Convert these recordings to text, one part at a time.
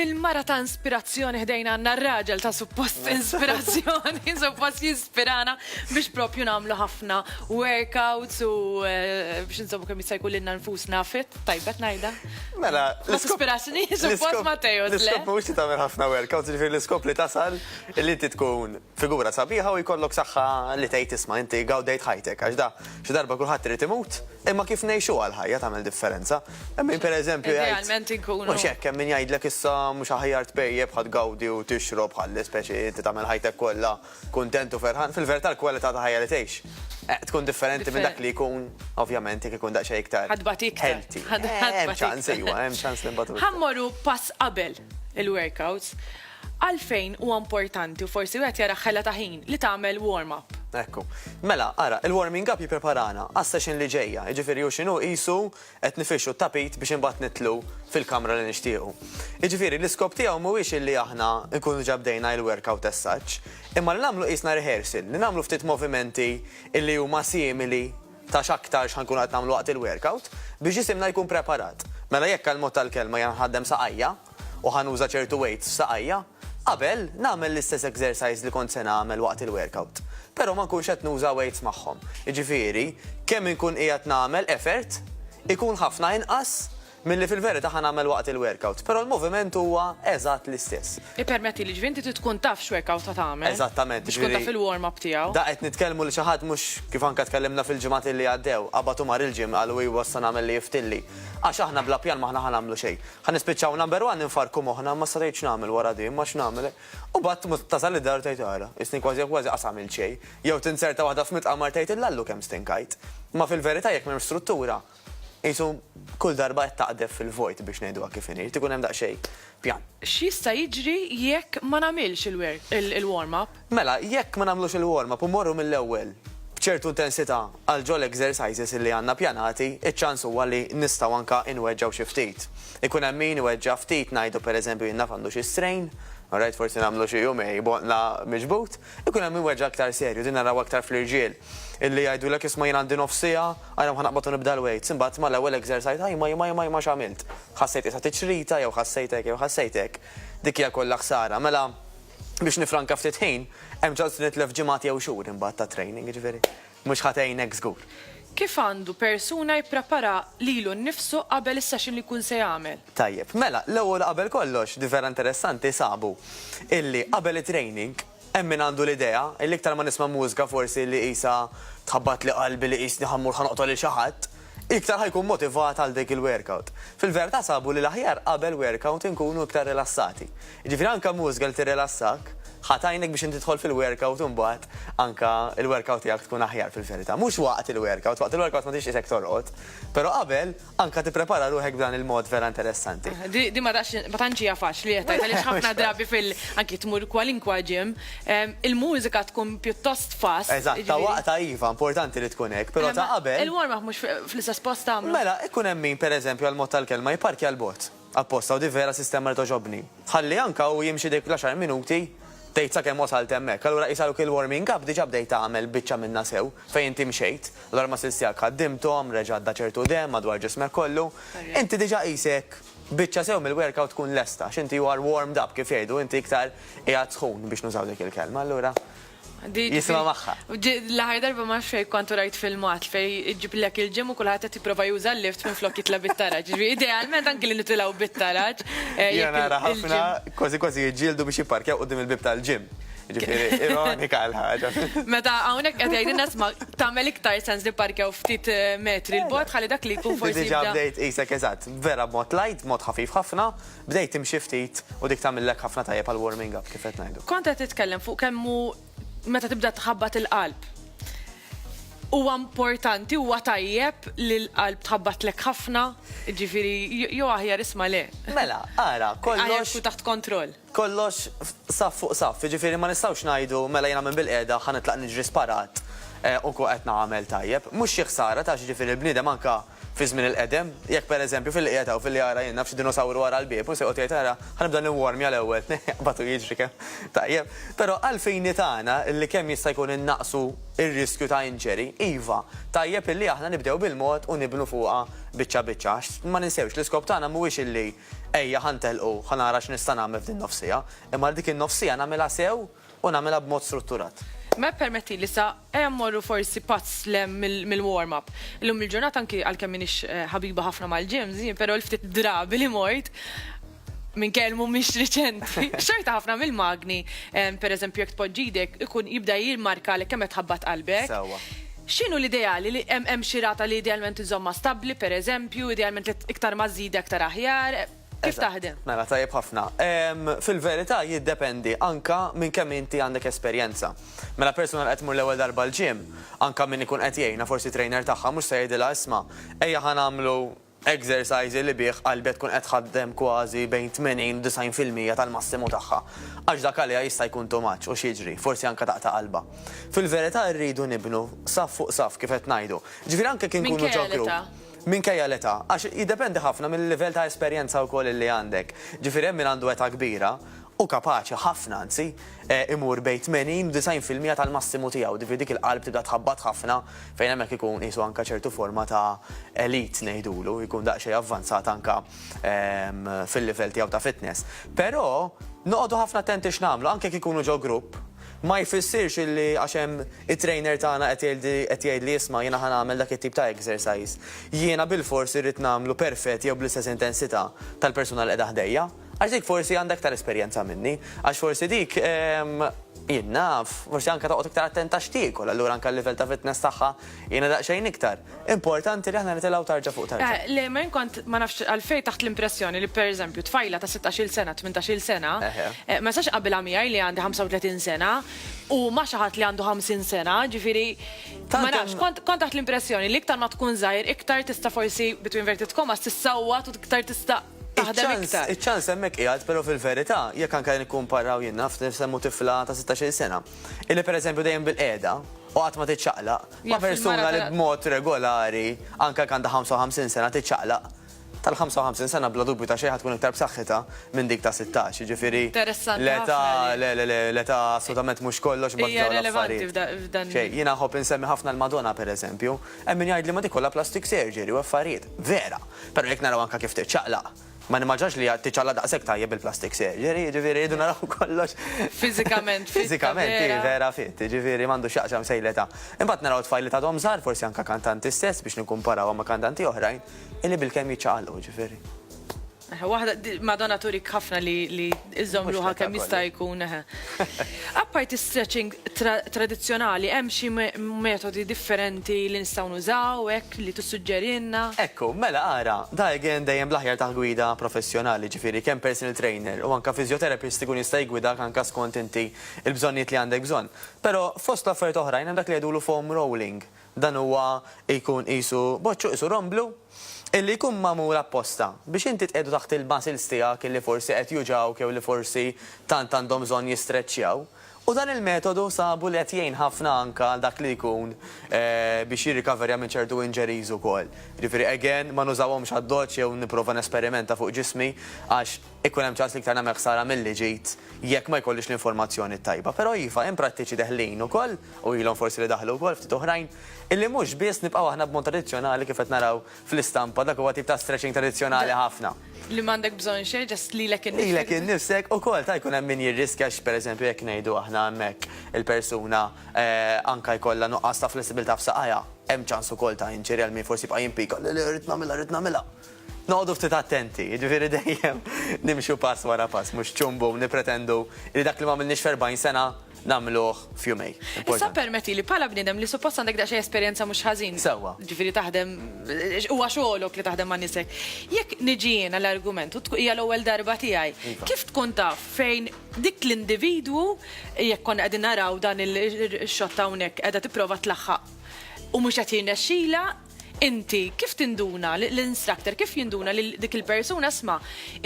Mill-mara ta' inspirazzjoni ħdejna għanna r-raġel ta' suppost inspirazzjoni, suppost jispirana biex propju namlu ħafna workouts u eh, biex nżommu kemm jista' jkun lilna nfusna fit, tajbet najda. Mela, ma tispirazzjoni suppost Mateo. L-iskop mhux li tagħmel ħafna workouts, ġifieri l-iskop li tasal li inti tkun Figura sabiħa u jkollok saħħa li tgħid isma' inti gawdejt ħajtek għax da xi darba kulħadd irid imut imma kif ngħixuha l-ħajja tagħmel differenza. Hemm min pereżempju jgħid. Idealment inkunu. Mhux hekk hemm min jgħidlek issa mhux aħjar tpejjep ħa tgawdi u tixrob ħalli speċi inti tagħmel ħajtek kollha kuntent u ferħan. Fil-verità l-kwalità ta' ħajja li tgħix eh, tkun differenti minn dak li jkun ovvjament jekk ikun daqsxejn iktar. Ħadbat iktar. Eh, hemm ċans iwa, hemm ċans li mbagħad. Ħammorru pass qabel il-workouts. Għalfejn huwa importanti u forsi wieħed jara ħela ta' ħin li tagħmel warm up? Ekku. Mela, ara, il-warming up jippreparana għas-session li ġejja, jiġifieri hu x'inhu qisu qed nifirxu t-tapit biex imbagħad nidħlu fil-kamra li nixtiequ. Jiġifieri l-iskop tiegħu mhuwiex illi aħna nkunu diġà bdejna il-workout as such, imma li nagħmlu qisna rehearsal, li nagħmlu ftit movimenti illi huma simili ta' x'aktar x'ħa nkunu qed nagħmlu waqt il-workout biex ġisimna jkun preparat. Mela jekk għall-mod tal-kelma jiena nħaddem saqajja, u ħa nuża ċertu weights f'saqajja, qabel nagħmel l-istess exercise li kont se nagħmel waqt il-workout, però ma nkunx qed nuża weights magħhom. Jiġifieri, kemm inkun qiegħed nagħmel effort ikun ħafna inqas milli fil-verità ħa nagħmel waqt il-workout, però l-moviment huwa eżatt l-istess. Ippermettili, jiġifieri inti trid tkun taf x'workout ħa tagħmel. Eżattament, jiġifieri. Biex tkun taf il-warm up tiegħu. Da qed nitkellmu li xi ħadd mhux, kif anke tkellimna fil-ġimgħat li għaddew, qabad u mar il-gym, qal hu iwa issa nagħmel li jiftilli. Għax aħna bla pjan m'aħna ħa nagħmlu xejn. Ħa nispiċċaw number one infarrku moħħna imma issa tgħid x'nagħmel wara di, imma x'nagħmel? U mbagħad tasal id-dar u tgħid ara, isni kważi kważi qas għamilt xejn. Jew tinzerta waħda f'mitqamar tgħid illallu kemm stinkajt. Imma fil-verità jekk m'hemmx struttura, qisu kull darba qed taqdef fil-vojt biex ngħiduha kif inhi, jrid ikun hemm daqsxejn pjan. X'jista' jiġri jekk ma nagħmilx il-warm up? Mela, jekk ma nagħmlux il-warm up u mmorru mill-ewwel b'ċertu intensità għal ġol exercises li għandna pjanati, iċ-ċans huwa li nistgħu anka inweġġgħu xi ftit. Ikun hemm min iweġġa' ftit ngħidu pereżempju jien naf għandu xi strain, alright forsi nagħmlu xi jumej b'għonqla miġbud, ikun hemm min iweġġa' aktar serju, din narawha aktar fl-irġiel, illi jgħidulek isma' jien għandi nofs siegħa, ara ħa naqbad u nibda l-weights, imbagħad mal-ewwel exercise ajma ajma ajma ajma x'għamilt? Ħassejt qiesha tiċrita jew ħassejt hekk jew ħassejt hekk. Dik hija kollha ħsara. Mela, Biex nifranka ftit ħin, hemm ġalt li nitlef ġimgħat jew xhur imbagħad ta' training, jiġifieri mhux ħa tgħinek żgur. Kif għandu persuna jipprepara lilu nnifsu qabel is-session li jkun se jagħmel? Tajjeb, mela, l-ewwel u qabel kollox, di vera interessanti, sabu illi qabel it-training hemm min għandu l-idea illi iktar ma nisma' mużika forsi li qisha tħabbatli qalbi li qisni ħa mmur ħa noqtol lil xi ħadd. iktar ħa jkun motivat għal dik il-workout. Fil-verità sabu li l-aħjar qabel workout inkunu iktar rilassati. Jiġifieri anke mużika li tirrilassakk, ħa tgħinek biex inti tidħol fil-workout imbagħad anke l-workout tiegħek tkun aħjar fil-verità. Mhux waqt il-workout, waqt il-workout ma tridx qisek torqod, però qabel anke tipprepara ruħek b'dan il-mod vera interessanti. Din ma tantx hija faċli qed tgħid għaliex ħafna drabi fil, anke tmur kwalinkwa gym, Il-mużika tkun pjuttost fast. Eżatt, ta' waqtha iva, importanti li tkun hekk, però ta' qabel. Il-warm-up mhux fl-istess post tagħmlu? Mela, ikun hemm min, pereżempju, għall-mod tal-kelma, jipparkja 'l bogħod, apposta, u di vera sistema li togħġobni. Ħalli anke hu jimxi dik l-għaxar minuti, tgħid sakemm wasalt hemmhekk. Allura qisha hu kien l-warming up, diġà bdejt tagħmel biċċa minnha sew, fejn inti mxejt, allura l-muscles tiegħek ħaddimthom, reġa' għadda ċertu demm madwar ġismek kollu, inti diġà qisek. biċċa sew mill-workout tkun lesta, għax inti you are warmed up, kif jgħidu, inti iktar qiegħed sħun biex nużaw dik il-kelma, allura jisimha magħha. L-aħħar darba ma nafx fejn kont u rajt filmat fejn iġiblek il-gym u kulħadd qed jipprova juża l-lift minflok jitla' bit-taraġ. Jiġifieri idealment anki li nitilgħu bit-taraġ. Jiena nara ħafna kważi kważi jiġġieldu biex jipparkjaw quddiem il-bieb tal-gym. Jiġifieri ironika l-ħaġa. Meta hawnhekk qed jgħidilna isma' tagħmel iktar sens li pparkjaw ftit metri 'l bogħod ħalli dak li jkun forsi. Diġà bdejt qisek eżatt. vera b'mod light, b'mod ħafif ħafna, bdejt timxi ftit u dik tagħmillek ħafna tajjeb għal warming up kif qed ngħidu. Kont qed titkellem fuq kemm hu meta tibda tħabbat il-qalb huwa importanti, huwa tajjeb li l-qalb tħabbatlek ħafna, jiġifieri jew aħjar isma' le. Mela, ara, kollox. Aħjar tkun taħt kontroll. Kollox saff fuq saff, jiġifieri ma nistgħux ngħidu mela jiena minn bil-qiegħda ħa nitlaq niġri sparat u nkun qed nagħmel tajjeb. Mhux xi ħsara taf x'jiġifieri l-bniedem anke Fi żmien il-qedem, jekk pereżempju fil-qiegħed hawn filli ara jien naf xi dinosawru wara l-bieb u se joqgħod jgħid ara, ħa nibda niwwormja l-ewwel, jaqbad u jiġri kemm. Tajjeb. Però għall-fini tagħna li kemm jista' jkun innaqqsu r-riskju ta' injury, iva, tajjeb illi aħna nibdew bil-mod u nibnu fuqha biċċa biċċa għax ma ninsewx l-iskop tagħna mhuwiex illi ejja ħa ntelqu, ħa nara x'nista' nagħmel f'din nofsija, imma li dik in-nofsija nagħmilha sew, u nagħmilha b'mod strutturat. Mela ppermettili sa ejja mmorru forsi pazz 'l hemm mill-warm up. Illum il-ġurnata anki għalkemm m'iniex ħabiba ħafna mal-gyms, jien però l-ftit drabi li mort, minkejja li mhumiex riċenti, xorta ħafna mill-magni, pereżempju jekk tpoġġi jdejk, ikun jibda jimmarkalek kemm qed tħabbat qalbek. Sewwa. X'inhu l-ideali? Li hemm xi rata li idealment iżommha stabbli pereżempju, idealment li iktar ma żżidha iktar aħjar? Kif taħdem? Mela, tajjeb ħafna. Fil-verità jiddependi anka minn kemm inti għandek esperjenza. Mela persuna qed mur l-ewwel darba l-ġim, anka min ikun qed jgħinha forsi trainer tagħha mhux se jgħidilha isma' ejja ħa nagħmlu exercise li bih qalbha tkun qed tħaddem kważi bejn 80 u 90 fil-mija tal-massimu tagħha. Għax dak għaliha jista' jkun too much u x'jiġri, forsi anka taqta' qalbha. Fil-verità rridu nibnu saff fuq saff kif qed ngħidu. Ġifieri anke kif inkunu ġo group. minkejja l-età, għax jiddependi ħafna mil-livell ta' esperjenza wkoll li għandek. Ġifieri hemm min għandu età kbira u kapaċi ħafna anzi, imur bejn 80 u 90 fil-mija tal-massimu tiegħu, ġifieri dik il-qalb tibda tħabbat ħafna fejn hemmhekk ikun qisu anke ċertu forma ta' elite ngħidulu, jkun daqsxejn avvanzat anke fil-livell tiegħu ta' fitness. Però noqogħdu ħafna attenti x'nagħmlu, anke jekk ikunu ġo grupp, Ma jfissirx illi għax hemm it-trainer tagħna qed jgħidli qed jgħidli isma' jiena ħa nagħmel dak it-tip ta' exercise, jiena bilfors irrid nagħmlu perfett jew bl-istess intensità tal-persuna li qiegħda ħdejja. Għax dik forsi għandha iktar esperjenza minni. Għax forsi dik, ehm, jien naf, forsi anke toqgħod iktar attenta x'tiekol, allura anke l-livell ta' fitness tagħha Jiena daqsxejn iktar. Importanti li aħna nitilgħu tarġa fuq tarġa. Eh, le, ma kont ma nafx għalfejn taħt l-impressjoni li pereżempju tfajla ta' 16-il sena, 18-il sena, eh, ma sax qabilha miegħi li għandi 35 sena u ma xi ħadd li għandu 50 sena, ġifieri ma nafx, kont taħt l-impressjoni li iktar ma tkun żgħir, iktar tista' forsi between inverted commas tissawwa u iktar tista' taħdem iktar. Iċ-ċans hemmhekk qiegħed, però fil-verità, jekk anke nikkumparaw jien naf, nsemmu tifla ta' sittax-il sena, illi pereżempju dejjem bilqiegħda u qatt ma tiċċaqlaq, ma' persuna li b'mod regolari, anke jekk għandha ħamsa u ħamsin sena, tiċċaqlaq, tal-ħamsa u ħamsin sena bla dubju ta' xejn ħa tkun iktar b'saħħitha minn dik ta' sittax, jiġifieri l-età, le, le, le, l-età assolutament mhux kollox imbagħad f'dawn l-affarijiet. Xejn, jiena nħobb insemmi ħafna l-Madonna pereżempju, hemm min jgħidli ma dik kollha plastic surgery u affarijiet. Vera! Però jekk naraw anke kif tiċċaqlaq, ma nimmaġinax li hija tiċċaqlaq daqshekk tajjeb bil-plastic surgery, jiġifieri rridu naraw kollox. Fiżikament fit. Fiżikament hi vera fit, jiġifieri m'għandu x'jaqsam xejn l-età. Imbagħad naraw tfajliet għadhom żgħar, forsi anke kantanti stess biex nikkumparawhom ma' kantanti oħrajn, illi bilkemm jiċċaqalqu, jiġifieri. Waħda, Madonna turik ħafna li Iżżomm ruħha kemm jista' jkun eħe. Apparti stretching tradizzjonali hemm xi metodi differenti li nistgħu nużaw hekk li tissuġġerilna? Ekku, mela ara, da again dejjem bl-aħjar taħt gwida professjonali, ġifieri kemm personal trainer u anke physiotherapist ikun jista' jiggwidak anke skont inti l-bżonnijiet li għandek bżonn. Però fost l-affarijiet oħrajn hemm dak li jgħidulu foam rolling, Dan huwa jkun qisu boċċu, qisu romblu, illi jkun magħmul apposta biex inti tqiegħdu taħt il-muscles tiegħek illi forsi qed juġgħuk jew li forsi tant għandhom bżonn jistreċċjaw. U dan il-metodu sabu li qed jgħin ħafna anke għal dak li jkun biex jirrikaverja minn ċertu injuries ukoll. Jiġifieri again ma nużawhomx għad-doċċ jew nipprova nesperimenta fuq ġismi għax, Ikun hemm ċans li iktar nagħmel ħsara milli ġid jekk ma jkollix l-informazzjoni t-tajba. Però iva, hemm prattiċi deħlin ukoll, u ilhom forsi li daħlu wkoll ftit oħrajn, illi mhux biss nibqgħu aħna b'mod tradizzjonali kif qed naraw fl-istampa, dak huwa tip ta' stretching tradizzjonali ħafna. Li m'għandek bżonn xejn, just lilek innifsek. Lilek innifsek ukoll, ta' jkun hemm min jirriskja għax pereżempju jekk ngħidu aħna hemmhekk il-persuna anke jkollha nuqqas ta' flessibilità f'saqajha, hemm ċans ukoll ta' injury għal min forsi jibqa' jimpika, le le rrid nagħmilha, rrid nagħmilha. Noqogħdu ftit attenti, jiġifieri dejjem nimxu pass wara pass, mhux ċumbu u nippretendu li dak li m'għamilniex f'erbgħin sena nagħmluh f'jumejn. Issa ppermettili, bħala bniedem li suppost għandek daqsxejn esperjenza mhux ħażin, jiġifieri taħdem, huwa xogħolok li taħdem ma' nies hekk, jekk niġi jiena l-argument u hija l-ewwel darba tiegħi, kif tkun taf fejn dik l-individwu, jekk konna qegħdin naraw dan ix-xott hawnhekk qiegħda tipprova tlaħħaq u mhux qed jirnexxilha, Inti kif tinduna, l-instructor kif jinduna li dik il-persuna isma'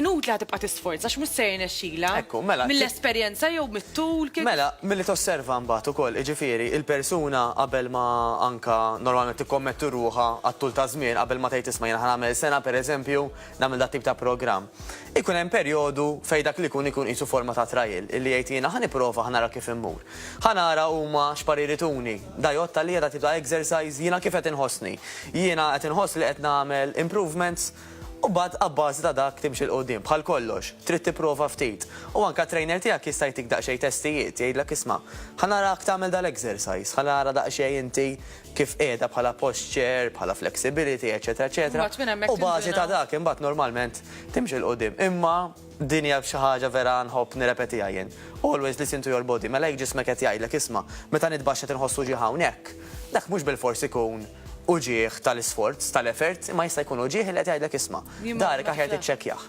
inutli ħa tibqa' tisforza għax mhux se jirnexxilha? Ekku, mela. Mill-esperjenza jew mit-tul kif? Mela, milli tosserva mbagħad ukoll, jiġifieri, il-persuna qabel ma anka normalment tikkommetti ruħha għat-tul ta' żmien qabel ma tgħid isma' jiena ħa nagħmel sena pereżempju, nagħmel dat-tip ta' programm, ikun hemm perjodu fejn dak li jkun ikun qisu forma ta' trial, illi jgħid jiena ħa nipprova ħa nara kif immur. Ħa nara huma x'parir ituni. Da jgħodd għalija dat-tip ta' exercise, jiena kif qed inħossni. Jiena qed inħoss li qed nagħmel improvements? U mbagħad abbażi ta' dak timxi 'l quddiem. Bħal kollox, trid tipprova ftit. U anke t-trainer tiegħek jista' jtik daqsxejn testijiet, jgħidlek isma', ħa narak tagħmel dal-exercise, ħa nara daqsxejn inti kif qiegħda bħala posture, bħala flexibility, eċċetera eċċetera, u bażi ta' dak imbagħad normalment timxi 'l quddiem. Imma din hija xi ħaġa vera nħobb nirrepetiha jien. Always listen to your body, mela jekk ġismek qed jgħidlek isma', meta nitbaxx qed inħoss uġigħ hawnhekk, dak mhux bilfors ikun uġigħ tal-isforz, tal-effort, imma jista' jkun uġigħ li qed jgħidlek isma', dahrek aħjar tiċċekkjah.